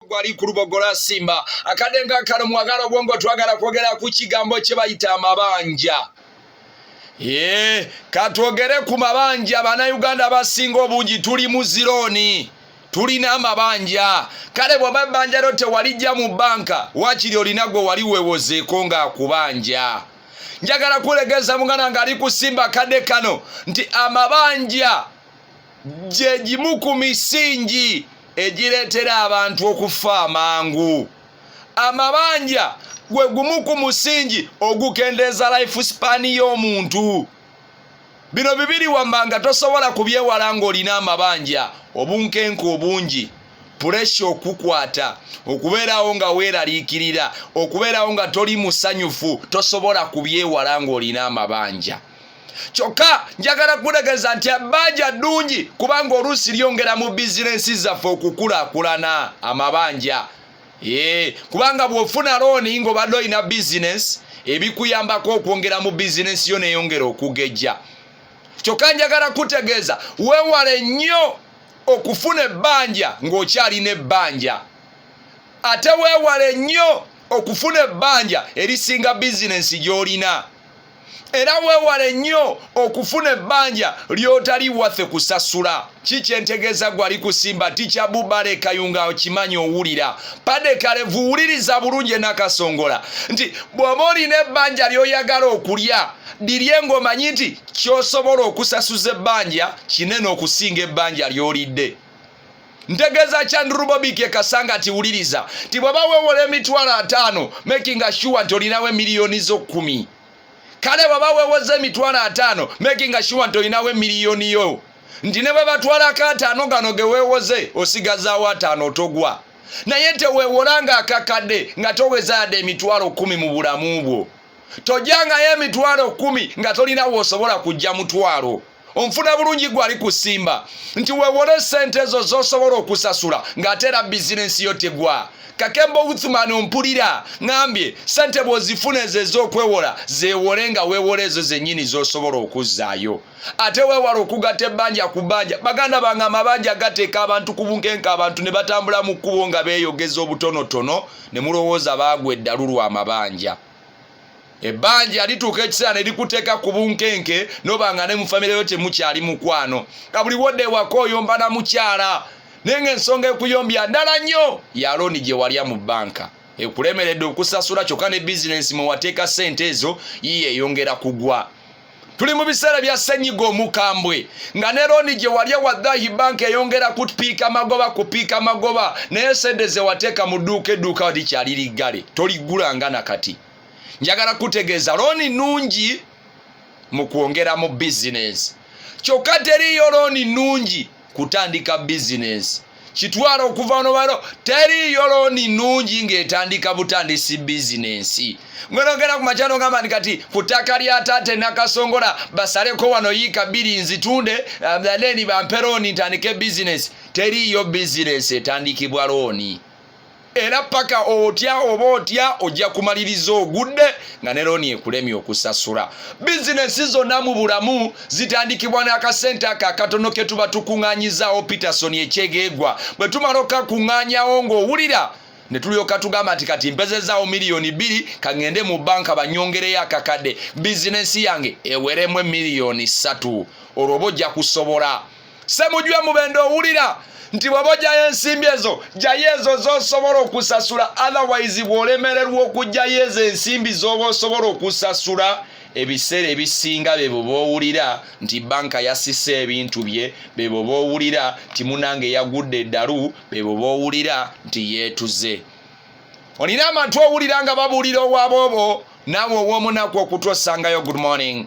gwali ku lubogola simba akadde nga kano mwagala obwongo twagala kwogera ku kigambo kye bayita amabanja ee katwogere ku mabanja banauganda abasinga obungi tuli mu zirooni tulina amabanja kale bwaba ebbanja lyo tewalijja mu banka wakiri olina gwe wali wewozeeko ngaakubanja njagala kulegeza muganda ngaali kusimba kadde kano nti amabanja gye gimu ku misingi egireetera abantu okufa amangu amabanja gwe gumu ku musingi ogukendeeza life span y'omuntu bino bibiri wammanga tosobola kubyewala ng'olina amabanja obunkenke obungi puresha okukwata okubeerawo nga weeraliikirira okubeerawo nga toli musanyufu tosobola kubyewala ng'olina amabanja kyokka njagala kukutegeeza nti ebbanja ddungi kubanga oluusi lyongera mu bizinensi zaffe okukulakulana amabanja ee kubanga bw'ofuna looni ng'obadde olina bizinensi ebikuyambako okwongera mu bizinensi yo neyongera okugejja kyokka njagala kutegeeza wewale nnyo okufuna ebbanja ng'okyalina ebbanja ate wewale nnyo okufuna ebbanja erisinga bizinensi gy'olina era weewale nnyo okufuna ebbanja ly'otali waffe kusasula ki kyentegeeza gwali kusimba tikya bubale kayunga okimanyi owulira padekalevu wuliriza bulungi enakasongola nti bw'oba olina ebbanja ly'oyagala okulya lirye ng'omanyi nti ky'osobola okusasuza ebbanja kinene okusinga ebbanja ly'olidde ntegeeza kya ndrubobiki ekasanga nti wuliriza nti bwaba wewola emitwalo ataano making sure nti olinawo emiliyoni zo kumi kale bwaba wewoza emitwalo ataano making sure nti olinawo emiliyoni yo nti ne bwe batwalako ataano gano ge wewoze osigazaawo ataano otogwa naye tewewola nga akakadde nga toweza yadde emitwalo kumi mu bulamu bwo tojangayo emitwalo kumi nga tolina wosobola kujja mutwalo onfuna bulungi gwe ali ku simba nti wewole sente ezo zosobola okusasula ng'ate era bizinensi yo tegwa kakemba outhman ompulira ngambye sente bwozifuna ezo ez'okwewola zewole nga wewola ezo zenyini zosobola okuzzaayo ate wewala okugata ebbanja ku bbanja baganda bange amabanja gateeka abantu ku bunkenka abantu ne batambula mu kkubo nga beeyogeza obutonotono ne mulowooza baagwa eddalu lwa mabanja ebbanja lituuka ekiseera ne likuteeka ku bunkenke noba nga ne mu famire yo temukyali mukwano nga buli wodde ewaka oyomba na mukyala naye nga ensonga ekuyombya ndala nnyo ya looni gye walya mu bbanka ekulemeredde okusasula kyokka ne bizinensi mwe wateeka ssente ezo yiye eyongera kugwa tuli mu biseera bya ssenyiga omukambwe nga ne looni gye walya waddahi banka eyongera kupiika magoba kupiika magoba naye sente zewateeka mu dduuka edduuka walikyali liggale toliggulanga na kati njagala kutegeeza looni nnungi mu kwongera mu bizinensi kyokka teriiyo looni nnungi kutandika bizinensi kitwala okuva nobalo teriyo looni nnungi ng'etandika butandisi bizinensi ngwenogera ku makya nogamba nti kati ku ttaka lya taata enakasongola basaleko wano yiika bbiri nzitunde then eh, bampe looni ntandike bizinensi teriyo bizinensi etandikibwa looni era paka otya oba otya ojja kumaliriza ogudde nga ne looni ekulemye okusasula bizinesi zonna mu bulamu zitandikibwa n'akasente ako akatono ke tuba tukuŋŋaanyizaawo peterson ekyegeegwa bwe tumala okakuŋŋaanyawo ng'owulira ne tulyoka tugamba nti kati mpezezaawo miliyoni bbiri kaŋŋende mu banka banyongereyo akakadde bizinesi yange eweremu emiliyoni ssatu olwo oba ojja kusobola semujwe mubende owulira nti bwaba ojayo ensimbi ezo jayo ezo zosobola okusasula otherwise bwolemererwa okujjayo ezo ensimbi zoba osobola okusasula ebiseera ebisinga bebo bowulira nti banka yasisa ebintu bye bebo bowulira nti munange yagudde eddalu bebo bowulira nti yeetuze olina amatu owulira nga babuulira owaboobo naawe ow'omunaku okutuosangayo good morning